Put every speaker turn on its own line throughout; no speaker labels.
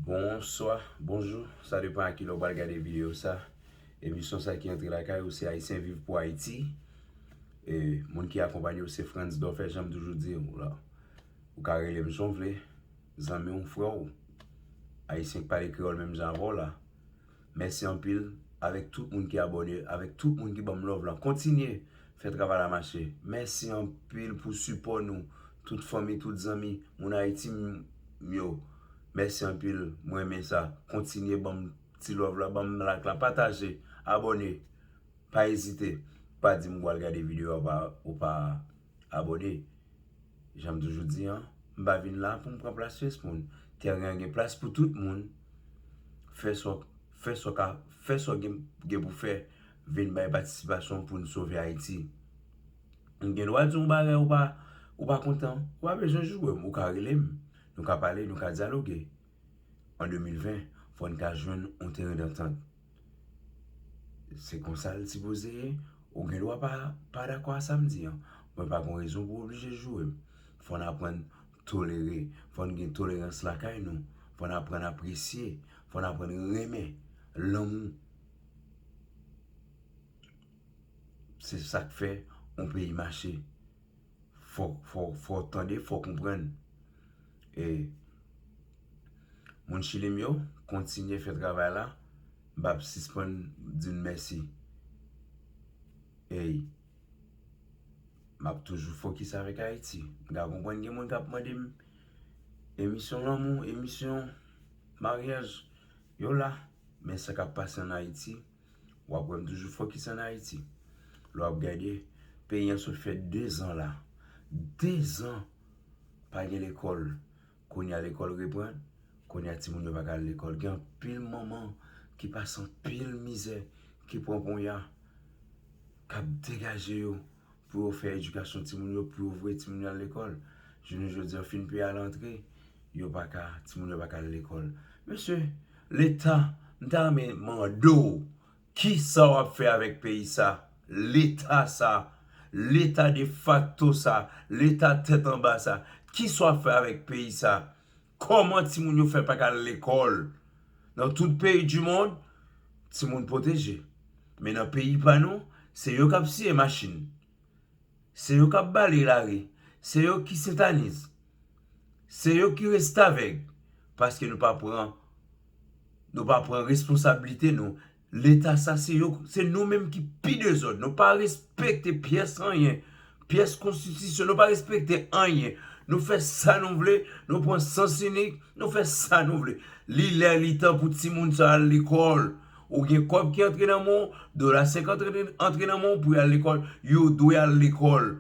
Bonswa, bonjou, sa depan a ki lè w pral gade videyo sa Emisyon sa ki antre lakay ou se Ayisyen Viv Pou Ayiti E moun ki akonpanye w se Frantz Dofè jan m toujou di w la Ou ka rele m jan w vle Zanmi w, frè w Ayisyen k pale kreyòl menm jan avè w la Mèsi anpil avèk tout moun ki abòne, avèk tout moun ki banm love lan kontinye fè travay la mache mèsi anpil pou sipò nou tout fanmi tout zanmi moun ayiti m yo mèsi anpil m renmen sa kontinye banm ti love la banm like la pataje abòne pa ezite pa dim ou pral gade video a ou pa. Abòne. Jan m toujou di an, m pa vin la pou m pran plas pyès moun. Tèren an gen plas pou tout moun. Fè sa w gen pou fè. Vin bay patisipasyon w pou n sove Ayiti. M gen dwa di w yon bagay ou pa kontan. Ou pa bezwen joure m. Ou ka rele m. Nou ka pale, nou ka dyaloge. An 2020, fò n ka jwenn yon teren dantant. Se konsa l sipoze ye. Ou gen dwa pa dakò ak sa m di an. Mwen pa gen rezon pou w oblije joure m. Fò n aprann tolere. Fò n gen tolerans lakay nou. Fò n aprann apresye. Fò n aprann renmen. Lanmou. Se sa k fè yon peyi mache. Fò fò fò tande fò konprann e moun chili m yo kontinye fè travay la m pap sispann di n mèsi ey map toujou fokis avèk ayiti m ka konprann gen moun kap mande m emisyon lanmou emisyon maryaj yo la men sa kap pase an ayiti. Wap wèm toujou fokis an Ayiti. Lè wap gade, peyi an sot fè 2 zan la, 2 zan pa gen lekòl. Kounye a lekòl reprann, kounye a timoun yo pa ka al lekòl. Gen anpil manman ki pase anpil mizè, ki pran ponya, kap degaje yo. pou yo fè edikasyon timoun yo, pou yo voye timoun yo al lekòl. Jounen jodi a, fi n peye al antre, yo pa ka, timoun yo pa ka al lekòl. Mesye, leta, m ta renmen mande w, ki sa w ap fè avèk peyi sa? Leta sa, leta defakto sa, leta tèt anba sa, ki sa w ap fè avèk peyi sa? Kòman timoun yo fè pa ka al lekòl? Nan tout peyi di mond, timoun pwoteje. Men nan peyi pa nou, se yo k ap siye machin. Se yo k ap bale lari. Se yo ki sentaniz. Se yo ki restavèg. Paske nou pa pran responsablite nou. Leta sa se yo se nou menm ki pi dezòd nou pa respekte pyès anyen pyès konstitisyon nou pa respekte anyen nou fè sa nou vle nou pran sans inik nou fè sa nou vle li lè li tan pou timoun sa al lekòl ou gen kòb ki antre nan men w dola 50 antre nan men w pou y al lekòl yo dwe al lekòl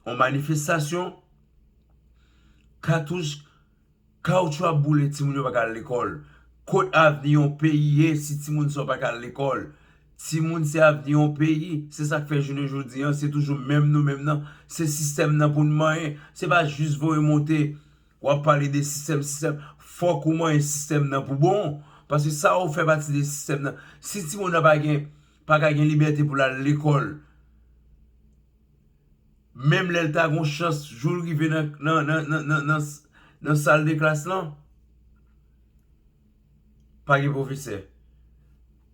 yon manifestasyon katouch Kaoutchou ap boule timoun yo pa ka al lekòl. Kot avni yon peyi ye si timoun sa yo pa ka al lekòl? Timoun se avni yon peyi. Se sa k fè jounen jodi an se toujou menm nou menm nan. Se sistèm nan pou n manyen. Se pa jis voye monte w ap pale de sistèm sistèm. Fòk ou manyen sistèm nan pou bon. Paske sa ou fè pati de sistèm nan. Si timoun nan pa gen pa ka gen libète pou l al lekòl. Menm lè l ta gen yon chans jou l rive nan sal de klas lan, pa gen pwofesè.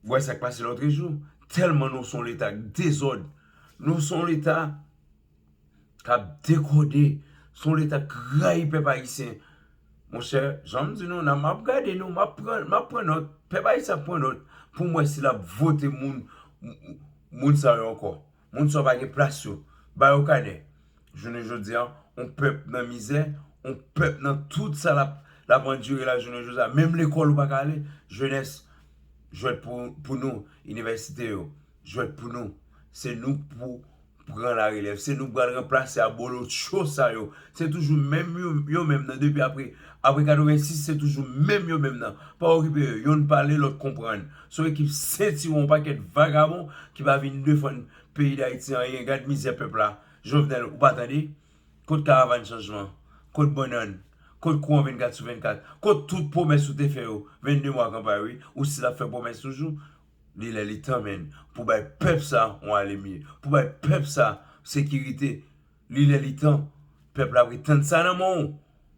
W wè sa k pase lòtrejou. Tèlman nou se yon Leta dezòd. Nou se yon Leta k ap dekòde. Se yon Leta k rayi pèp ayisyen. Monchè, jan m di nou la, m ap gade nou, m ap pran nòt. Pèp ayisyen ap pran nòt pou m wè si l ap vote moun sa yo ankò. Moun sa yo pa gen plas yo. Ba yo kanè. Jounen jodi a, yon pèp nan mizè, yon pèp nan tout sa l ap andire la jounen jodi a. Menm lekòl ou pa ka ale. Jenès, jwèt pou nou. Inivèsite yo, jwèt pou nou. Se nou k pou pran larelèv. Se nou k pral ranplase abolotcho sa yo. Se toujou menm yo menm nan depi apre 86, se toujou menm yo menm nan. Pa okipe yo. Youn pale, lòt konprann. Son ekip sentiwon yon pakèt vagabon ki pa vin defann peyi dayiti anyen gad mizè pèp la jovenel ou pa tande kot karavann chanjman kot bannann kot kouran 24 sou 24 kot tout pwomès ou te fè yo 22 mwa kanpay wi ou stil ap fè pwomès toujou li lè li tan menn pou bay pèp sa yon alemye pou bay pèp sa sekirite. Li lè li tan, pèp la ap ret tann sa nan men w,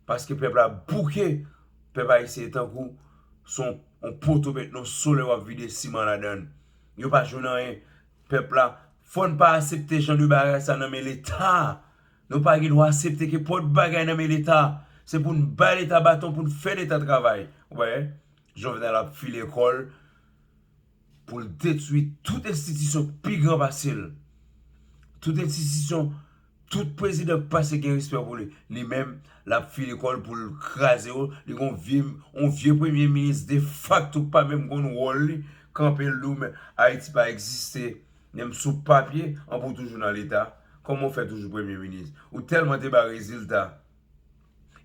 paske pèp la bouke, pèp ayisyen tankou se yon poto met nan solèy wap vide siman ladan l, yo pa jwenn anyen, pèp la fò n pa asepte jan de bagay sa nan men leta, nou pa gen dwa asepte ke pòt bagay nan men leta, se pou n bay leta baton pou n fè leta travay, wè Jovenel ap file kò l Pou l detwi tout enstitisyon k pi gran pase l. Tout enstitisyon tout prezidan k pase gen respè pou li. Li menm l ap file kò l pou l kraze yo. Li gen yon vye premye minis defakto k pa menm konn wòl li. Kanpe l di w men Ayiti pa egziste. Menm sou papye, anben w toujou nan leta. Kòman w fè toujou premye minis? Ou tèlman te bay rezilta.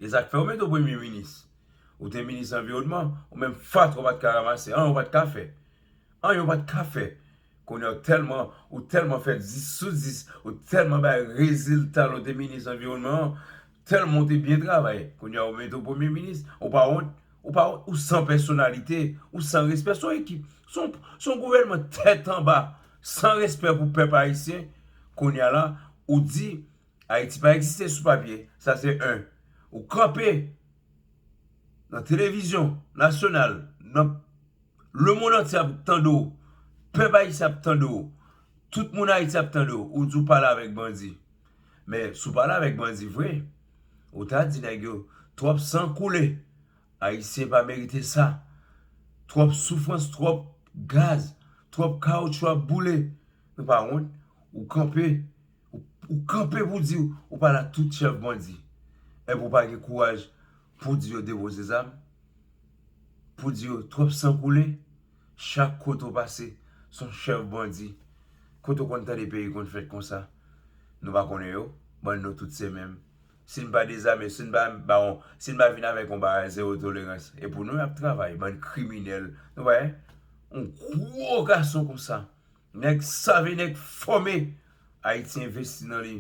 E sa k fè yo mete w premye minis. Ou te minis anviwònman, ou menm fatra ou pat ka ramase anyen ou pat ka fè. Anyen ou pat ka fè. Kounye ou tèlman, ou tèlman fè 10 sou 10, ou tèlman bay rezilta lè ou te minis anviwònman an, tèlman ou te byen travay, kounye yo mete ou premye minis, ou pa wont, ou pa wont, ou san pèsonalite, ou san respè, son ekip, son, son gouvènman tèt anba, san respè pou pèp ayisyen, kounye a la, ou di, Ayiti pa egziste sou papye, sa se 1. Ou kanpe nan televizyon nasyonal, nan lemonn antye ap tande w, pèp ayisyen ap tande w, tout moun Ayiti ap tande w, ou di w pale avèk bandi. Men, si w pale avèk bandi vre, ou ta di nèg yo, twòp san koule, Ayisyen pa merite sa, twòp soufrans, twòp gaz, twòp kawoutchou ap boule. Nou pa wont? Ou kanpe. Ou kanpe pou di ou pale ak tout chèf bandi, epi ou pa gen kouraj pou di yo depoze zam, pou di yo twòp san koule, chak kote ou pase son chèf bandi, kote ou konn tande peyi konn fèt konsa, nou pa konnen yo, bann nou tout se menm, si n pa dezame, si n pa ba yon, si n pa vin avèk yon bagay zewo tolerans, e pou nou y ap travay, bann kriminèl, nou wè, yon gwo gason konsa. Nèg save nèg fòme Ayiti envesti nan li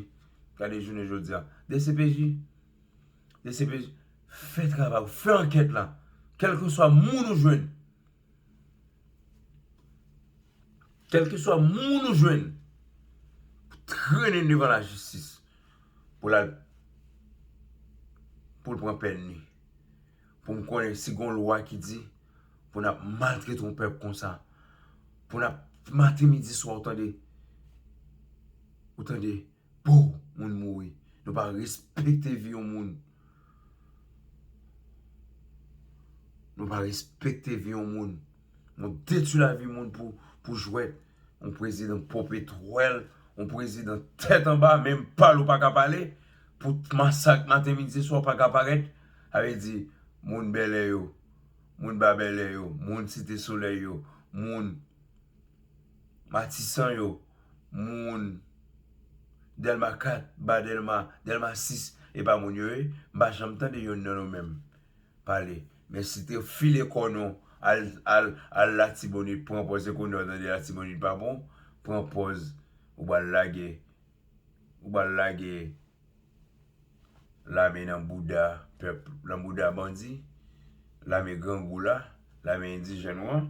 gade jounen jodi a dcpj dcpj fè travay ou fè ankèt la kèlkeswa moun ou jwenn kèlkeswa moun ou jwenn trennen l devan lajistis pou l al pou l pran pèn li. pou m konnen si gon lwa ki di pou n ap maltrete yon pèp konsa, pou n ap maten midi swa ou tande, ou tande pouw moun mouri, nou pa respekte vi yon moun, nou pa respekte vi yon moun, nou detwi lavi moun pou jwèt, yon prezidan popetwèl, yon prezidan tèt anba, menm pale ou pa ka pale, pou masak maten midi swa ou pa ka parèt. Sa vle di, moun Bèlè yo, moun Ba Bèlè yo, moun Site Solèy yo, moun Matisan yo, moun Dèlma 4, Ba Dèlma, Dèlma 6, e pa moun yo ye? M pa janm tande yonn nan nou menm pale. Men si te file kò nou al Latibonit, pran pòz, se kounye a w tande Latibonit pa bon, pran pòz ou pral lage. Ou bal lage lame nan bouda pèp nan bouda bandi lame grangou la lame endijèn ou an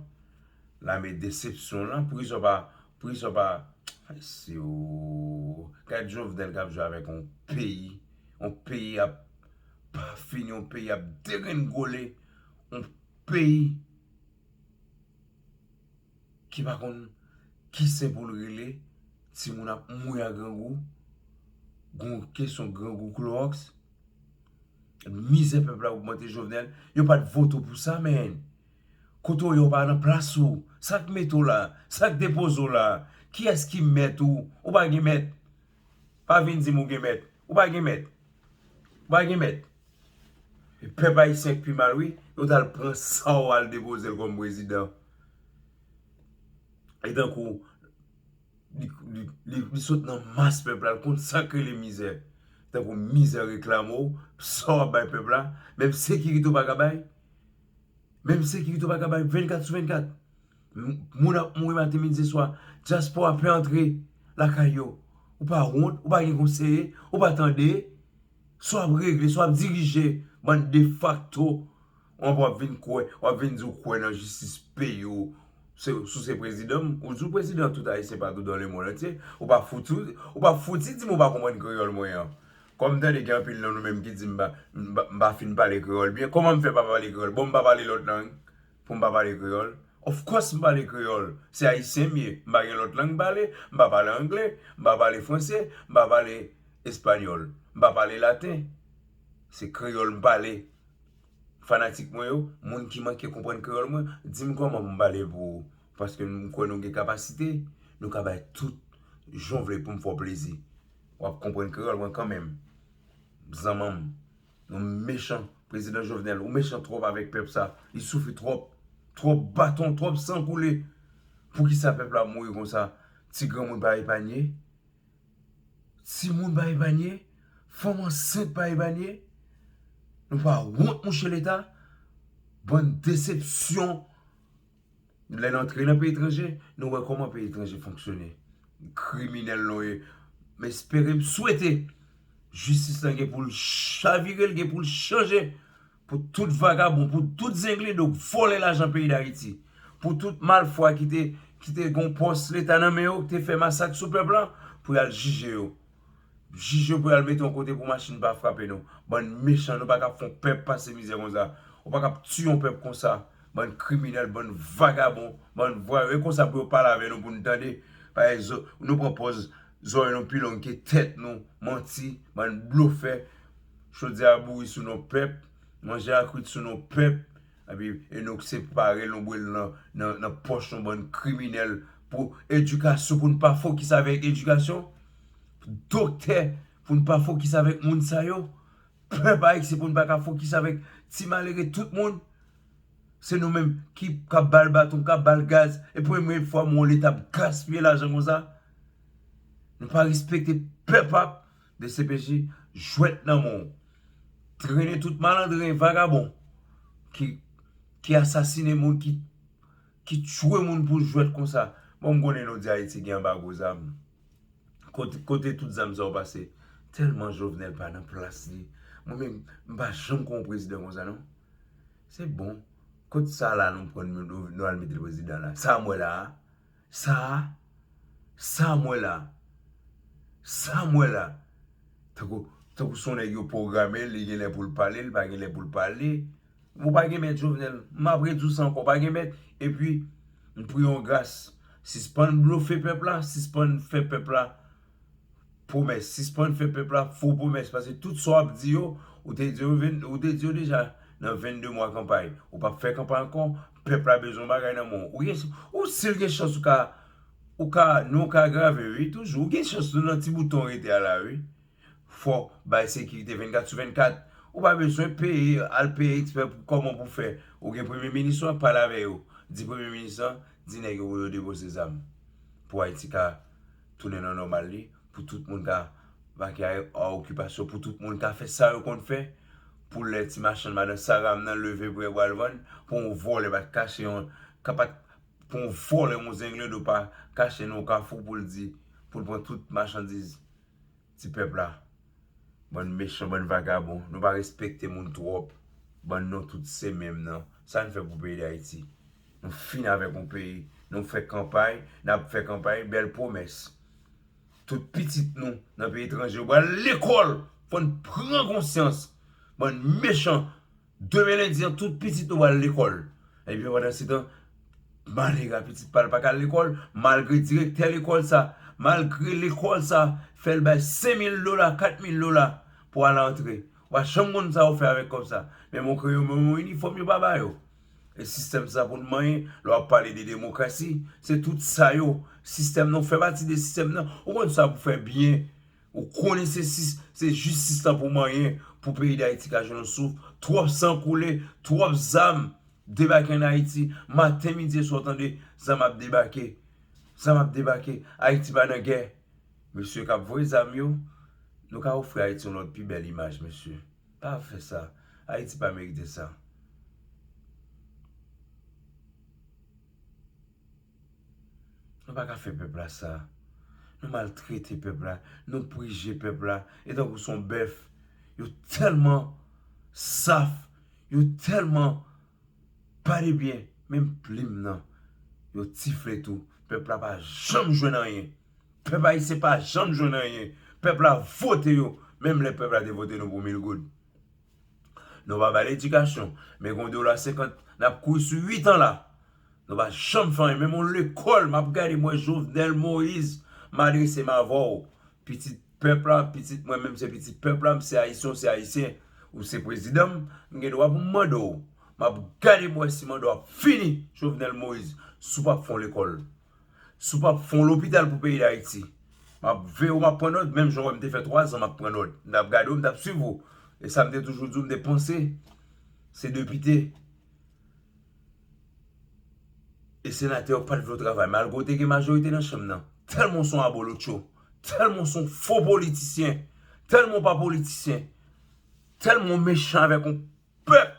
lame desepsyon w lan poukisa w pa poukisa w pa ayisye ooh gad jovenel kap jwe avèk yon peyi yon peyi ap pa fini yon peyi ap degrenngole yon peyi ki pa konn ki sen pou l rele, timoun ap mouri a grangou, gon kesyon grangou klowòks, mizè pèp la ogmante Jovenel, yo pa t vote w pou sa men, kote w ye w pa nan plas ou, sa k mete w la, sa k depoze w la, kiyès ki mèt ou, ou pa gen mèt. Pa vin di m ou gen mèt. Ou pa gen mèt. Ou pa gen mèt. E pèp ayisyen k pi mal wi. Yo t al pran sa w al depoze l kòm prezidan. E tankou li sot nan mas pèp la. L konn sa k rele mizè. Tankou mizè reklame w. Sa w ap bay pèp la. Menm sekirite w pa ka bay. Menm sekirite w pa ka bay 24 sou 24. Moun ap mouri maten midi swa diaspora pè antre lakay yo ou pa wont ou pa gen konseye ou pa tande sa wap regle sa wap dirije bann defakto ou anpè wap vin kwè wap vin di ou kwè nan jistis peyi ou sou se prezidan ou di ou prezidan tout ayisyen patou dan lemond antye ou pa fouti di m ou pa konprann kreyòl mwen an kòm m tande gen anpil nan nou menm ki di m pa fin pale kreyòl byen kòman m fè pa pale kreyòl bon m pa pale lòt lang. Pou m pa pale kreyòl? Of course m pale kreyòl! Se Ayisyen m ye, m pa gen lòt lang m pale, m pa pale angle, m pa pale franse, m pa pale espanyòl, m pa pale laten. Se kreyòl m pale. Fanatik mwen yo, moun ki manke konprann kreyòl mwen, di m kòman pou m pale pou ou. Paske m kwè nou gen kapasite, nou ka bay tout jan w vle pou m fè w plezi. W ap konprann kreyòl mwen kanmenm, zanman m. Nou mechan prezidan jovenel ou mechan trop avek pep sa li soufri trop trop baton trop san koule poukisa pep la ap mouri konsa ti granmoun pa epanye ti moun pa epanye fanm ansent pa epanye nou pa wont mouche leta bann desepsyon. Lè n antre nan peyi etranje, nou wè kòman peyi etranje fonksyone. Kriminèl nou ye. M espere, m swete jistis lan gen pou l chavire, l gen pou l chanje pou tout vagabon, pou tout zenglendo k vòlè lajan peyi Dayiti, pou tout malfwa ki te gen yon pòs Leta nan men yo, ki te fè masak sou pèp lan, pou y al jije yo. Jij yo pral mete yon kote pou machin pa frape nou. Bann mechan nou pa kap fon pèp pase mizè konsa. Ou pa kap tiye yon pèp konsa. Bann kriminèl, bann vagabon, bann vwayou. E konsa pou yo pale avè nou pou nou tande. Paye zo, nou pran pòz zòrèy nou pi long ke tèt nou. Manti, bann blofè. Chodyè a bouri sou non pèp. Manje a kwit sou non pèp. Epi Enock se pare lonbwe l nan nan pòch yon bann kriminèl pou edikasyon pou n pa fokis avèk edikasyon, doktè pou n pa fokis avèk moun sa yo, pèp ayisyen pou n pa ka fokis avèk ti malere tout moun. Se nou menm ki k ap ba l baton, k ap ba l gaz. E premye fwa m wè yon leta ap gaspiye lajan konsa. Nou pa respekte pèp ap Dcpj jwet nan men w. Trene tout malandren vagabon ki asasine moun ki tchwe moun pou jwet konsa. Bon m konnen nou di ayiti gen anbago zam. Kote tout zam sa yo pase. Telman Jovenel pa nan plas li. Mwen menm m pa janm kon yon prezidan konsa non. Se bon kot sa la nou pran nou al mete prezidan la. Sa m we la a. Sa a, sam wè la, sam wè la. Tankou, tankou son nèg yo pwogramel, li genlè poul pale, li pa genlè poul pale. Ou pa gen mèt Jovenel, map rediw sa ankò, ou pa gen mèt. Epi, m priye yon gras, sispann blofe pèp la, sispann fè pèp la Pwomès, sispann fè pèp la fo pwomès pase tout sa wap di yo ou te di yo ou te di yo deja nan 22 mwa kanpay ou pap fè kanpay ankò pèp la bezwen yon bagay nan men w ou gen ou sil gen chans ou ka ou ka non w ka agrave wi toujou ou gen chans tou nan ti bouton w rete a la wi fò bay sekirite 24 sou 24 ou pa bezwen peye al peye ekspè pou kòman pou fè ou gen premye minis ou an pale avè yo di premye minis lan di nèg yo pou yo debose zam pou ayiti ka tounen nan nòmal li, pou tout moun ka vake a okipasyon, pou tout moun ka fè sa yo konn fè, pou lè ti machann madan Saram nan leve pou yo pral vann, pou yon vòlè pa t kache yon, ka pa t, pou yon vòlè yon zenglendo pa kache nan yon kafou pou l di, pou l pran tout machandiz. Ti pèp la bann mechan bann vagabon nou pa respekte moun tròp bann nou tout se menm nan sa n fè pou peyi dayiti nou fin avèk yon peyi nou fè kanpay nap fè kanpay bèl pwomès tout pitit nou nan peyi etranje yo pral lekòl pou n pran konsyans bann mechan. Demen lendi an tout pitit nou pral lekòl. Ebyen pandansetan, malere a pitit pa l pa ka al lekòl malgre direktè lekòl sa, malgre lekòl sa fè l bay senmil dola, katmil dola pou al antre. Ou pa janm konn sa yo fè avèk kòb sa. Men mwen kwè yo menm yon inifòm yo pa ba yo. E sistèm sa pou n manyen, lè w ap pale de demokrasi, se tout sa yo. Sistèm nan, ou fè pati de sistèm nan, ou konn sa pou fè byen. Ou konnen se se jistis la pou manyen pou peyi dayiti ka jwenn yon souf, twòp san koule, twòp zam debake an ayiti, maten midi e swa w tande zam ap debake, zam ap debake, ayiti pa nan gè, mesye kap voye zam yo, nou ka ofri ayiti yon lòt pi bèl imaj mesye, pa fè sa, ayiti pa merite sa. Nou pa ka fè pèp la sa. Nou maltrete pèp la. Nou prije pèp la. E tankou son bèf. Yo tèlman saf. Yo tèlman pa de byen. Menm plim nan. Yo tifle tou. Pèp la pa janm jwenn anyen. Pèp ayisyen pa janm jwenn anyen. Pèp la vote yo. Menm lè pèp la te vote nou pou mil goud. Nou pa bay ledikasyon. Men gon dola senkant nap kouri sou 8 an la. Nou pa janm fè anyen. Menm yon lekòl map gade mwen Jovenel Moïse m adrese m avè w. Pitit pèp la, pitit mwen menm se pitit pèp la, m se ayisyen w se ayisyen. Ou se prezidan m, m gen dwa pou m mande w. Map gade pou m wè si manda w ap fini Jovenel Moïse si w pap fè yon lekòl. Si w pap fon lopital pou peyi dayiti map veye w map pran nòt menm jan w wè m te fè 3 zan map pran nòt m tap gade w m tap swiv ou e sa m te toujou di w m te panse se depite e senatè yo pat vle w travay malgre w te gen majorite nan chanm nan tèlman w son abolotcho tèlman w son fo politisyen tèlman w pa politisyen tèlman w mechan avèk yon Pèp!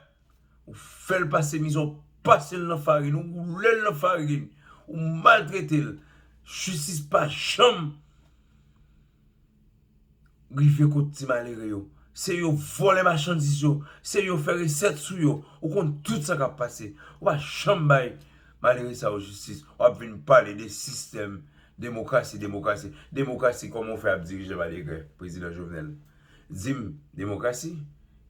Ou fè l pase mizè, ou pase l nan farin, ou woule l nan farin, ou maltrete l. Jistis pa janm rive kot ti malere yo. Se yo vòlè machandiz yo, se yo fè resèt sou yo. Ou konn tout sa k ap pase. Ou pa janm bay malere sa yo jistis. W ap vin pale de sistèm demokrasi, demokrasi. Demokrasi kòman ou fè ap dirije malere Prezidan Jovenel? Di m, Demokrasi?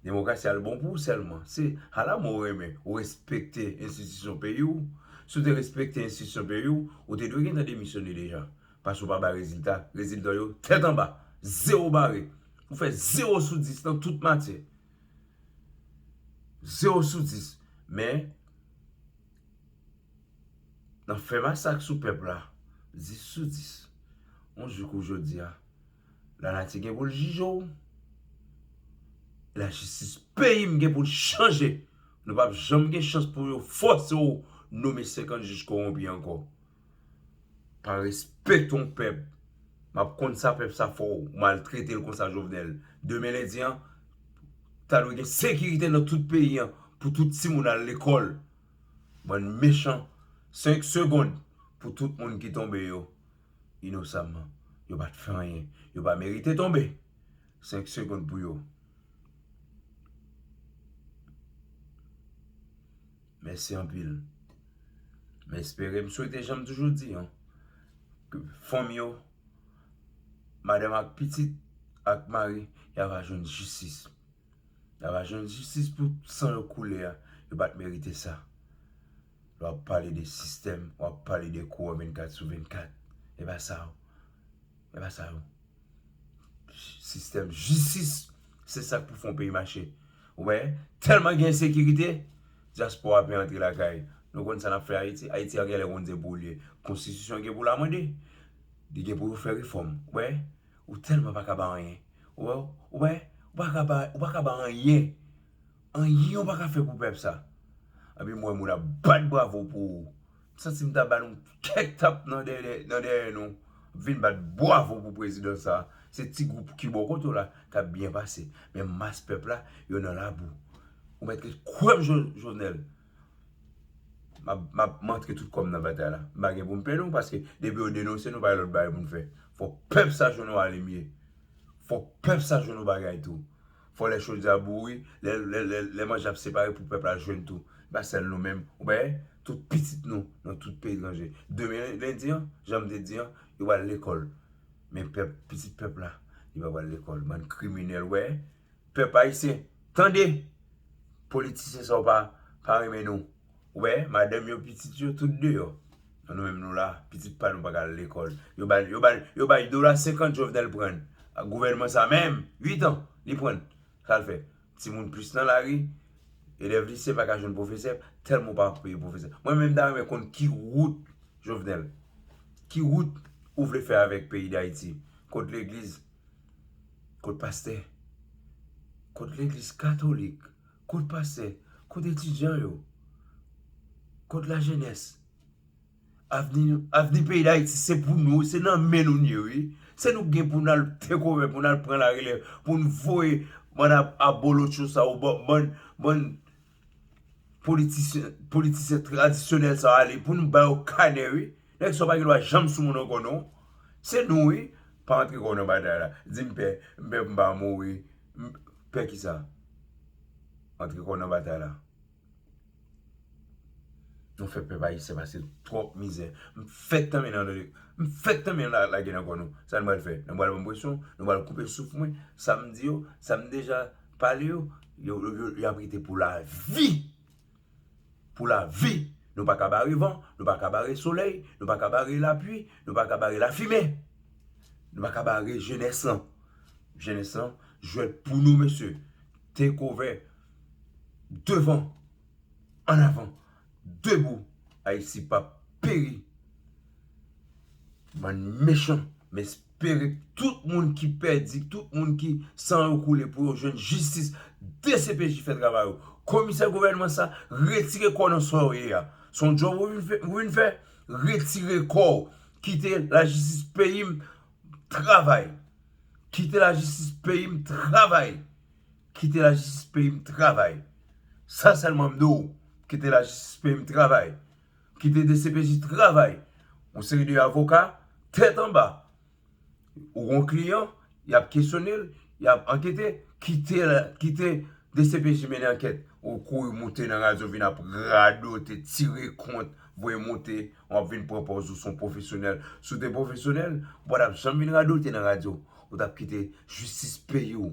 Demokrasi a l bon pou ou sèlman? Se ala mwen renmen ou respekte enstitisyon peyi w. Si w te respekte enstitisyon peyi w, ou te dwe gentan demisyone deja. Paske w pa bay rezilta. Rezilta w yo tèt anba. Zewo bare. Ou fè zewo sou dis nan tout matyè. Zewo sou dis. Men, nan fè masak sou pèp la, dis sou dis. On jou kou jodi a. La nati gen pou l jije w. La jistis peyi m gen pou l chanje. Nou pap janm gen chans pou yo fòse w nome 50 jij kowonpi ankò. Pa respekte yon pèp. M ap konn sa pèp sa fè w. Ou maltrete l konsa Jovenel. Demen lendi an, ta dwe gen sekirite nan tout peyi an pou tout timoun al lekòl. Bann mechan. 5 segond pou tout moun ki tonbe yo. inosamman. Yo pa t fè anyen. Yo pa merite tonbe. 5 segond pou yo. Mèsi anpil. M espere, m swete jan m toujou di an. Ke fanm yo, madanm ak pitit, ak mari, ya va jwenn jistis. Ya va jwenn jistis pou san yo koule a. Yo pa t merite sa. Lè wap pale de sistèm, wap pale de kou an 24 sou 24. E pa sa yo. E pa sa yo. Sistèm jistis, se sak pou fè yon peyi mache. Ou wè, tèlman gen ensekirite, dyaspora ap vin antre lakay. Nou konn sa nap fè Ayiti? Ayiti a genlè konn di pou li. Konstitisyon gen pou l amande. Li gen pou yo fè refòm. Ou wè, ou tèlman pa ka ba anyen. Ou wè, ou wè, ou pa ka ba, ou pa ka ba anyen. Anyen yo paka fè pou pèp sa. Epi m wè moun ap bat bravo pou ou. M santi m ta ba nou kèk tap nan dèyè nou vin bat bwavo pou prezidan sa. Se ti gwoup ki bò kote w la k ap byen pase. Men mas pèp la yo nan labou. Ou mèt ret kwè m Jovenel. M ap m antre tout kò m nan batay la. M pa gen pou m pè non paske depi yo denonse nou pa gen lòt bagay pou n fè. Fòk pèp sa jwenn yon alemye. Fòk pèp sa jwenn yon bagay tou. Fò lè chodye a boure, lè manje ap separe pou pèp la jwenn tou. Se pa sèl nou menm. Ou wè, tout pitit nou nan tout peyi etranje. Demen lendi an, jan m te di an, yo pral lekòl. Men pèp, pitit pèp la, li pa pral lekòl. Bann kriminèl, ou wè. Pèp ayisyen, tande! Politisyen sa yo pa renmen nou. Ou wè, madanm yo, pitit yo, tout deyò. An nou menm nou la, pitit pa nou pa ka al lekòl. Yo ba l, yo ba l, yo bay dola senkant Jovenel pran l. Ak gouvènman sa menm, uitan li pran l. Sa l fè? Timoun plis nan lari, elèv lise pa ka jwenn pwofesè tèlman ou pa peye pwofesè. Mwen menm m ta renmen konn ki wout Jovenel, ki wout ou vle fè avèk peyi Dayiti? Kot legliz? Kot pastè? Kot legliz katolik? Kot pastè? Kot etidyan yo? Kot lajenès? Avni nou, avni peyi Dayiti se pou nou, se nan men nou li ye wi. Se nou ki gen pou nal tekòve, pou nal pran larelèv, pou nou voye bann abolotcho sa yo, bann, bann politisyen, politisyen tradisyonèl sa yo ale, pou nou ba yo kanè wi. Nèg sa w pa gen dwa janm sou moun ankò non. Se nou wi. Pa antre kò w nan batay la. Di m pè. M pè pou m pa mouri. Pè ki sa? Antre kò w nan batay la. Nou fè pèp ayisyen pase twòp mizè. M fèk tanmen nan tande. M fèk tanmen nan lage nan kò nou. Sa nou pral fè? Nou pral ban m presyon? Nou pral koupe souf mwen? Sa m di yo? Sa m deja pale yo? Yo ap rete pou lavi! pou la vi nou paka bare van nou paka bare solèy nou paka bare la pwi nou paka bare la fimen nou paka bare jenès lan jenès lan jwèt pou nou mesye tekovè devan an avan debou ayiti pap peri bann mechan mes. pere tout moun ki pèdi tout moun ki san yo koule pou yo jwenn jistis dcpj fè travay ou komisè gouvènman sa retire kò nan sa ou ye a son djòb ou vin fè retire kò ou kite lajistis peyim travay kite lajistis peyim travay kite lajistis peyim travay sa sèlman m di ou kite lajistis peyim travay. Kite dcpj travay. Yon seri de avoka tèt anba. Ou gon kliyan, y ap kesyone l, y ap ankete. Kite dcpj mennen ankèt. Ou kouri moute nan radyo vin ap radote, tire kont, voye moute. W ap vin pran pòz ou se yon pwofesyonèl. Si w te pwofesyonèl, ou pa t ap janm vin radote nan radyo. Ou t ap kite jistis peye w.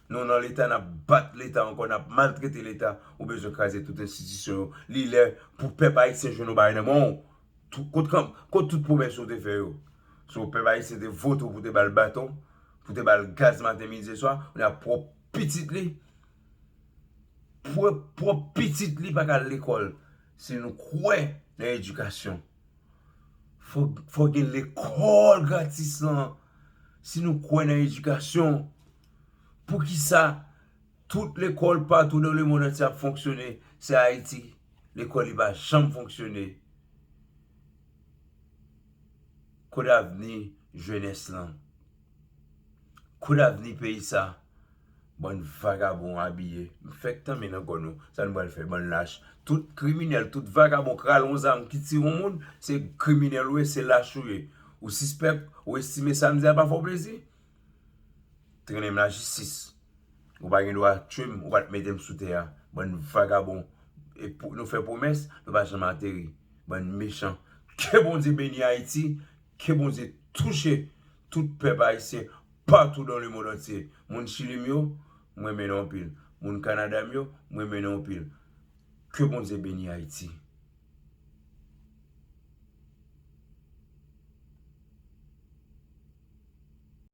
Nou nan leta nap bat leta ankò nap maltrete leta ou bezwen kraze tout enstitisyon yo li lè pou pèp ayisyen jwenn yon bagay nan menw kot tout pwomès yo te fè yo so pèp ayisyen te vote w pou te bal baton pou te bal gaz maten midi e swa kounye a pwòp pitit li pwòp pitit li paka al lekòl si nou kwè nan edikasyon fòk gen lekòl gratis lan si nou kwè nan edikasyon. Poukisa tout lekòl patou nan le mond antye ap fonksyone se ayiti lekòl li pa janm fonksyone kot avni jenès lan kot avni peyi sa bann vagabon abiye m fèk tanmen nan kò nou sa nou pral fè bann lach tout kriminèl tout vagabon k rale yon zam ki tire yon moun se kriminèl ou ye se lach ou ye ou sispèk ou estime sa m di a pa fè w plezi Trennen m la jistis. Ou pa gen dwa tchwe m, ou pa t mete m sou tè a. Bann vagabon. E pou nou fè pwomès, nou pa janm ateri. Bann mechan. Ke Bondye beni Ayiti, ke Bondye touche tout pèp ayisyen patou dan le mond antye. Moun Chili m yo, m renmen nou anpil. Moun Kanada m yo, m renmen nou anpil. Ke Bondye beni Ayiti.